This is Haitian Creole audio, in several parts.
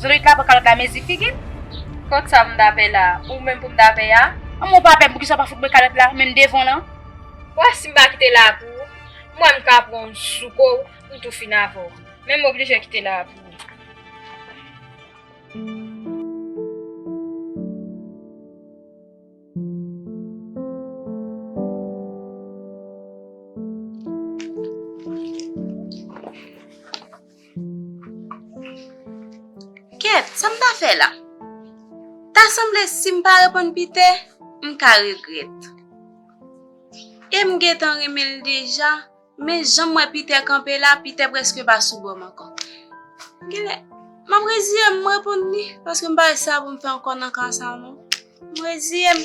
Zorit la poko ka mezi figil. Kot sa poum ta pè la. Ou menm poum ta pè a. Anmwe ou pa pè poukisa ou pa fout mwen kalòt la menm devan lan. Bon sim pa kite la pou ou m wè m ka pran w sou ko w m tou fin avè w men m oblije kite la pou ou. Kèt, sa m ta fè la? Ta sanble si m pa reponn Piter, m ka regrèt. E m gentan renmen l deja, men jan m wè Piter kanpe la, Piter prèske pa sou bò m ankò. Genlè, m ap reziye m, m reponn li, paske m pa wè sa pou m fè ankò nan ka sa non. M reziye m.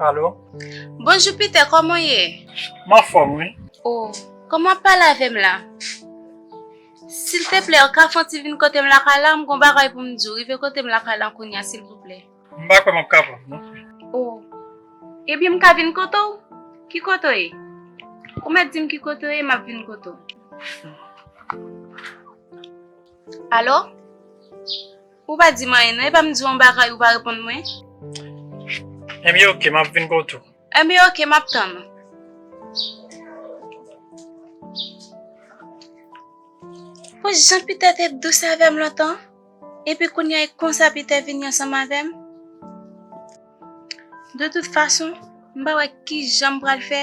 Alo? Bonjou Peter, kòman w ye? M anfòm wi. O, kòman w ap pale avè m la? Silteplè, ou ka fè yon ti vin kote m lakay la, m gen yon bagay pou m di w. Rive kote m lakay la kounye a silvouplè. M pa kwè m ap kapab non. O, ebyen m ka vin kote w? Ki kote w ye? Ou mèt di m ki kote w ye, m ap vin kote w. Alo? Ou pa di m anyen non, epa m di w yon bagay ou pa reponn mwen? Enben ok, m ap vin kote w. Enben ok, m ap tann ou. Bon jan Piter te dous avè m lontan, epi kounye a e konsa Piter vini ansanm avè m? De tout fason, m pa wè kijan m pral fè.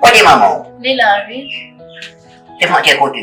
Kote manman w? Li la wi. Te manke kote.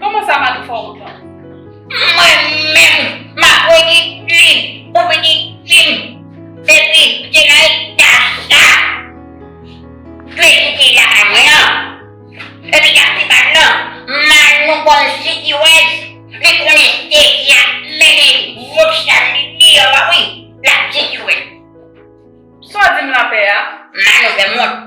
Koman sa Manou fè w kontan? Mwen menm m ap redi ui ou vini di m depi m te nan eta sa Freddy te ye lakay mwen an epi kap di pa non Manou konn sitirèz li konnen Freddy ap mennen gwo chal li deyò a wi lap sitirèz. Sa w di m lapè a? Manou fè m wont.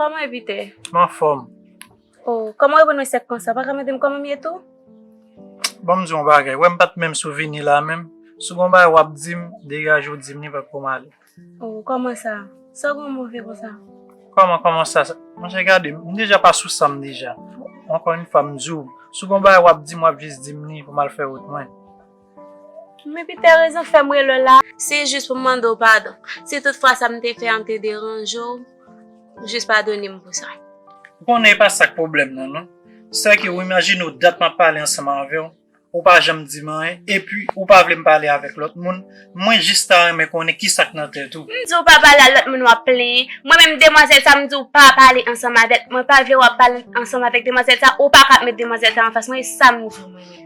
Koman e Pite? M anfòm. Oh, koman e Bonè sèk konsa? Pa ka mande m koman m ye tou? Bon m di w yon bagay, wè m pa t menm sou vini la menm, si w gen yon bagay w ap di m, degaje w di m li paske pou m ale. Oh, koman sa? Sa w gen w move konsa? Koman, koman sa? Monchè gade, m deja pa sou san m deja. Ankò yon fwa m di w, si w gen yon bagay w ap di m, w ap jis di m li pou m al fè wout mwen. Men pi tè rezon fè m rele w la. Se jis pou m mande w padon. Si tout fwa sa m te fè an te deranje w, jis padone m pou sa. Ou konnen e pa sa k pwoblèm nan non. Sè ke ou imajine w dat m ap pale ansanm avè w, ou pa janm di m anyen, epi ou pa vle m pale avèk lòt moun, mwen jis ta renmen konnen ki sa k nan tèt ou. M di w pa pale a lòt moun w ap plenyen, mwen menm demwazèl sa m di w pa pale ansanm avè l, mwen pa vle w ap pale ansanm avèk demwazèl sa, ou pa ka ap met demwazèl sa anfas mwen, e sa m di w mwen menm.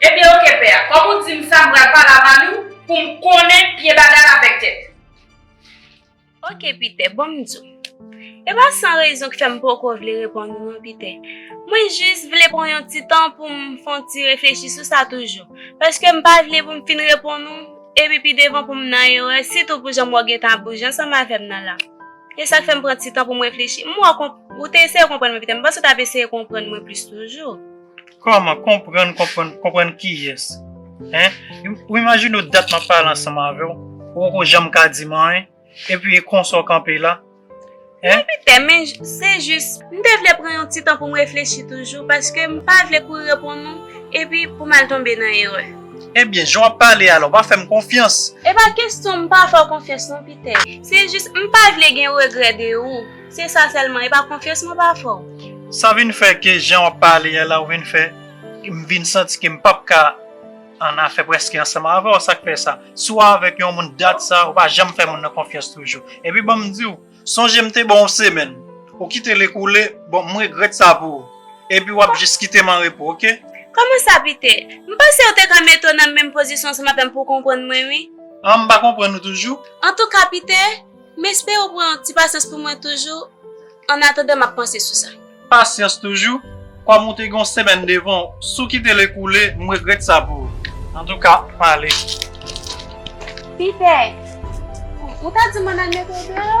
Ebyen ok pè a, kòm ou dim sa m pral pale a Manou pou m konnen pye bagay la avèk tèt li. Ok Piter, bon m di w. E pa san rezon ki fè m poko vle reponn ou non Piter. Mwen jis vle pran yon ti tan pou m fè yon ti reflechi sou sa toujou. Paske m pa vle pou m fin reponn ou, epi pi devan pou m nan erè, sitou pou jan m wè w gentan ap bouje ansanm avè m nan la. E sa k fè m pran ti tan pou m reflechi. M wè w konprann, ou te eseye konprann mwen Piter, m panse w t ap eseye konprann mwen plis toujou. Kòman? Konprann, konprann, konprann kiyès? Hein? Ou imajine w dat map pale ansanm avè w, ou poko janm ka di m anyen, epi e konsa w kanpe la? Hein? Mwen pè, men se jis, m te vle pran yon ti tan pou m reflechi toujou, paske m pa vle kouri reponn ou, epi pou m al tonbe nan erè. Ebyen, jan w ap pale a la, w pa fè m konfyans? E pa kesyon m pa fè w konfyans non Pitè, se jis m pa vle gen regrè de ou. Se sa selman e pa konfyans mwen pa fè w. Sa vin fè ke jan wap pale a la ou vin fè m vin santi ke m pap ka annafè preske ansanm avè w sak fè sa. Si w avèk yon moun dat sa ou pa janm fè moun nan konfyans toujou. Epi banm di w sonje m te ba w yon semèn ou kite l ekoule bon m regrèt sa pou ou epi wap jis kite m an repo ok. Kòman sa Piter? M panse ou te ka mete w nan menm pozisyon ansanm avè m pou w konprann mwen wi. An m pa konprann ou toujou? Antouka Piter. M espere w pran ti pasyans pou mwen toujou, annatandan m ap panse sou sa. Pasyans toujou? Kòm ou te gen yon semèn devan w si w kite l ekoule, m regrèt sa pou ou. Antouka, m ale. Piter, Ou ta di m ann al mete w deyò?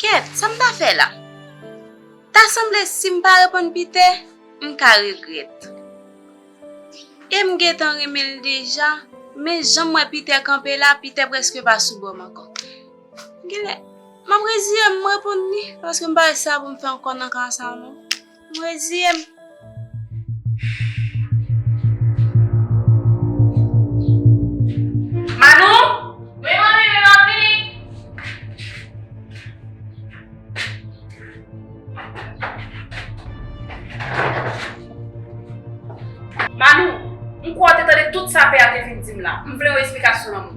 Kèt, sa m ta fè la? Ta sanble si m pa reponn Piter, m ka regrèt. E m gentan renmen l deja, men jan m wè Piter kanpe la, Piter prèske pa sou bò m ankò. Gilè, map reziye m reponn li paske m pa wè sa pou m fè ankò nan ka sa non. M reziye m. Manou! Wi manmi, wi map vini. Manou, m kwè w te tande tout sa pè a te fin di m la. M vle yon esplikasyon lanmou.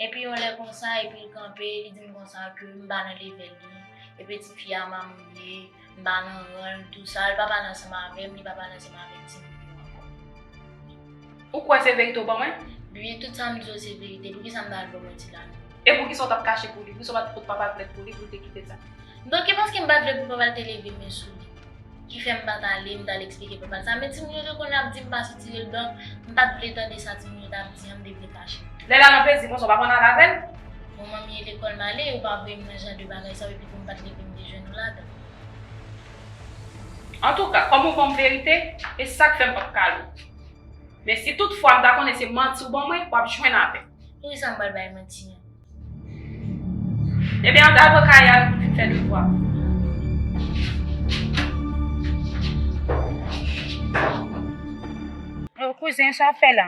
Epi yon lè konsa epi l kanpe li di m konsa ke m pa nan level li, e peti fi a mamoune, m pa nan ran l tou sa, l pa pale ansanm avè m, li pa pale ansanm avèk timoun yo ankò. Ou kwè se verite ou ban mwen? Byen tout sa m di yo se verite, poukisa m ta al ban mwen ti Lami? E poukisa ou t ap kache pou li? Poukisa ou pa t fout papa l plent pou li pou l te kite sa? Donk e paske m pa t vle pou papa l te leve men sou li. ki fè m pa t ale, m t al eksplike papa sa. Men timoun yo te konn ap di m pa soti yo, donk m pa t vle tande sa timoun yo t ap di an, m te vle fache. Lè Lala te di konsa, w pa konn ale avè l? Bon, manmi e lekòl m ale, yo pa voye m nan jan de bagay sa yo, epi tou m pa t leve m te jwenn ou ladan l. Antouka, kòm ou ban m verite, e sa k fè m p ap kale w. Men si toutfwa m ta konnen se manti ou ban mwen, w ap jwenn avè m. Poukisa m pral bay manti an? Ebyen eh antal pran kaye a pou vin fè devwa. Oh kouzen sa w fè la?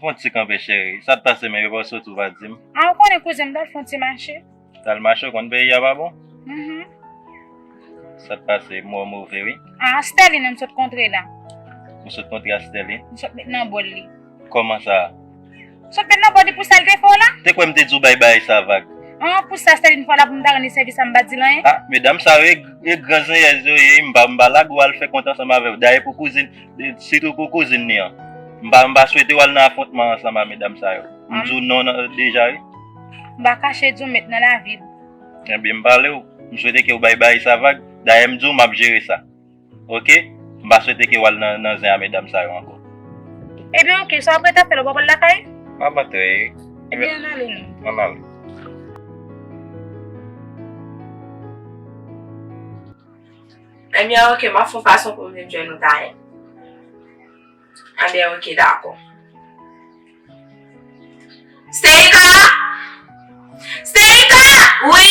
Fon ti kanpe cheri, sa t pase men yo pa soti w pa di m? Ah ou konnen kouzen m t al fon ti mache. T al mache ou konn peyi a pa bon? Uhmm. Sa t pase mou an move wi. Ah Sterline m sot kontre la. Ou sot kontre a Sterline? M sot met nan bol li. Kòman sa? Sot menm nan bòdi pou sal te fè w la? Te kwè m te di w bay bagay sa vag? An, pou sa sèvi m fè w la pou m ta rann li sèvis la m pa di l anyen? Ah, medam sa yo e gran zenyèz yo ye wi, m pa m pa lage w al fè kont ansanm avè yo. Dayè pou kouzin, sitou pou kouzin li an. M pa m pa swete w al nan afwontman ansanm a medam sa yo. M di w non nan deja wi. M pa kache di w met nan lavi m. Ebyen m pale w, m swete ke w bay bagay sa vag. Dayè m di w m ap jere sa. ok m pa swete ke wal nan zen a medam sa yo anko. Ebyen ok sa wap ret ap fè la ou pa pral lakay. Map antre wi. Ebyen ann ale nou. Ann ale. Ebyen ok map fon fason poum vin jwenn ou tayè. Ebyen ok dako. Steyika! Steyika! Wi!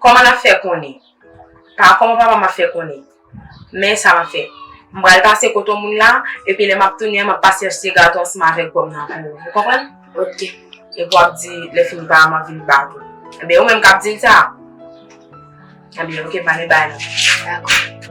Kòman nap fè konnen? Pa kòman papa m ap fè konnen. Men sa map fè. M pral pase kote yon moun la, epi lè map tounen an map pase achte gato ansanm avèk gòm nan pou ou. Ou konprann? Ok. Epi wap di lè fini papa m ap vin bat ou. Enben ou menm kap di l sa? Enben ok pale bay la. Dakò.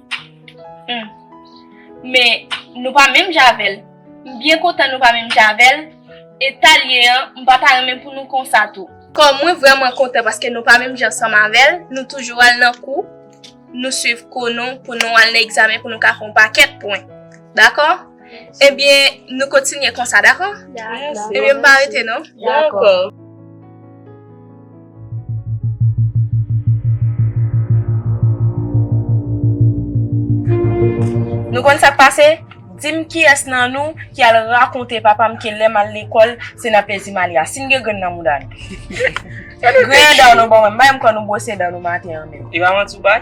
Humm men nou pa menm javel m byen kontan nou pa menm javel etal ye an m pa ta renmen pou nou konsa tou. Kò mwen vrèman kontan paske nou pa menm jan ansanm avèl nou toujou al nan kou nou swiv kou nou pou nou al nan egzamen pou nou ka fon pakèt pwen dakò. Ebyen nou kontinye konsa dako? Ebyen m pa rete non. Dako. Nou konn sak pase? Dim kiyes nan nou ki al rakonte papa m ke lem al lekol se nan pezi m ale a. Sim gen grenn nan mouda nou. Griyen dan nou bon mwen. M pa janm kwè nou bwose dan nou maten an menm. E pa manti w bay?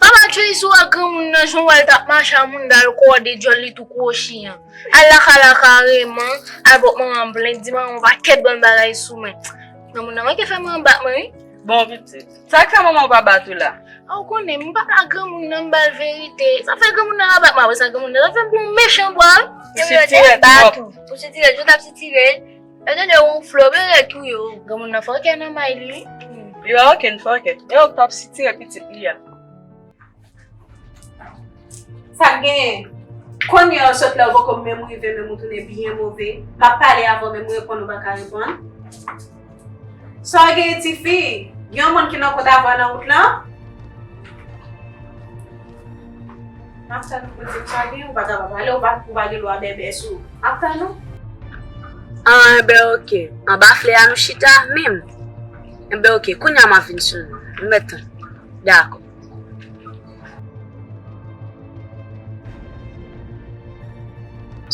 Pa ba tchoui sou ak granmoun nan jan w wè l t ap mache a moun dal kòde djòl li tou kwochi an. Al laka laka kareman, al pot manman m plent di manman w pa ket bann bagay sou mwen. Granmoun nan manke fè manman bat mwen wi. Bon pitit, sa k fè manman w pa bat ou la? A w konnen m pap ak granmoun nan m ba l verite. Sa k fè granmoun nan ap bat mwen apre sa granmoun nan t ap fè m pou yon mechan bwa. Sitirèt twòp. Pou sitirèt, jan w t ap sitire l. Yo te de wonfle yo byen ret wi yo. Granmoun nan fòkè nan may li wi. Li pa okenn fòkè. E ok pap sitire pitit li a. Sak genyen? Konnye an sot lè ou poko menm rive menm ou tounen byen move. Map pale avè w menm reponn ou paka reponn. Sa w genyen tifi? Gen yon moun ki nan kont avè w nan wout lan? Map tann ou pou dim sa gen ou pa ta pale ou pa gen lwa bèbè sou ou map tann ou. Anbè ok anba flè a nou chita menm anbè ok kounya map vin sou ou nou mèt tann dakò.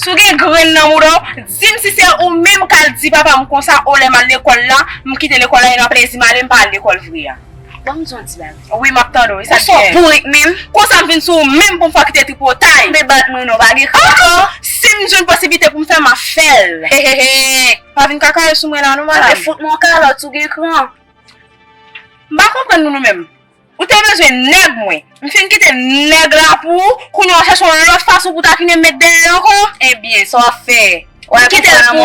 Si w gen grenn nan mouda w, di m si se ou menm k al di papa m konsa o lè m al lekòl la, m kite lekòl la e nan plezi m ale m pa al lekòl vre a. Ban m di w yon ti bagay. Wi map tande w e sak gen. Ou so bourik minm. Konsam vin sou ou minm poum fè w kite tripotay. Be bat mwen non pa gen kran ankò. Sim jwenn posiblite poum fè map fèl. Hehehe. Pa vin kakaye sou mwen la non madam. Be fout mwen yon kalòt ou gen kran. M pa konprann nou nou menm. Ou te bezwen nèg mwen. M fin kite nèg la pou ou, kounya w chache yon lòt fason pou takine'm met dèyè ankò. Ebyen sa wap fè? Wap kite l pou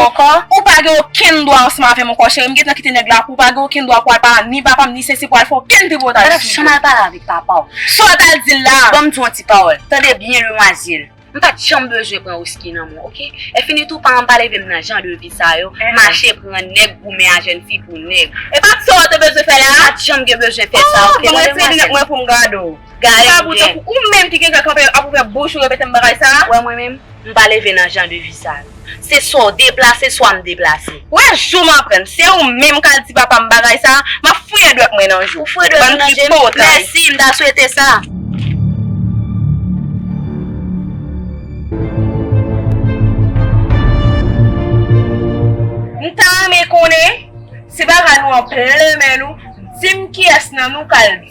ou pa gen okenn dwa ansanm avèm ankò cheri m gentan kite nèg la pou ou pa gen okenn dwa pou al pale ni papam ni sesi pou al fè okenn tripotaj sou yo. Ou patap janm al pale avèk papa w. Sa w tal dil la. Banm di w yon ti pawòl, tande byen demwazil. M pat janm bezwen pran Whisky nan men w ok. Enfini tou pa anba leve m nan jan de vi sa yo, mache pran nèg goumen a jèn fi pou nèg. E pa sa w te bezwen fè la. M pat janm gen bezwen fè sa ok. Banm retire linèt mwen poum gade w. Gade m byen. Ou menm ki gen kè kanpe ap ouvè bouch ou repete m bagay sa. Wè mwen menm. M pa leve nan jan de vi sa yo. Se swa w deplase, swa m deplase. Ou wè jou m aprann. Se ou menm k al di papa m bagay sa a, m ap fouye dwèt mwen nan je w. Bann tripotay. Mèsi, m ta swete sa. M ta renmen konnen, se bagay nou an plen men nou, di m kiyès nan nou k al di.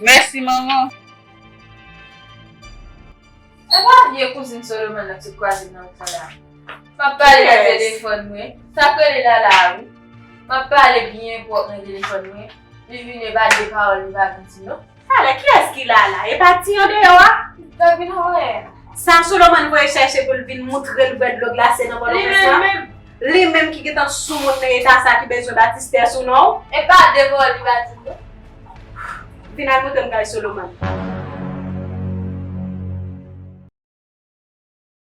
Mèsi manman. E pa vye kouzin Solomon nan k sot kwaze nan ri Fanda a? Map pale nan telefòn mwen, sak rele Lala a wi. Map pale byen pwòp nan telefòn mwen, li vin e pa de pawòl li pa vin di non. Fanda, kiyès ki Lala? E pa ti andeyò a? Lap vin anvwaye a. Sa Solomon voye chèche pou l vin moutre l vè dlo glase nan bòl ou fè sa? Li menm menm! Li menm ki gentan soumoun nan eta sa ki bezwen batistè sou non. E pa de bò li batize non. Vin al montre m kay Solomon.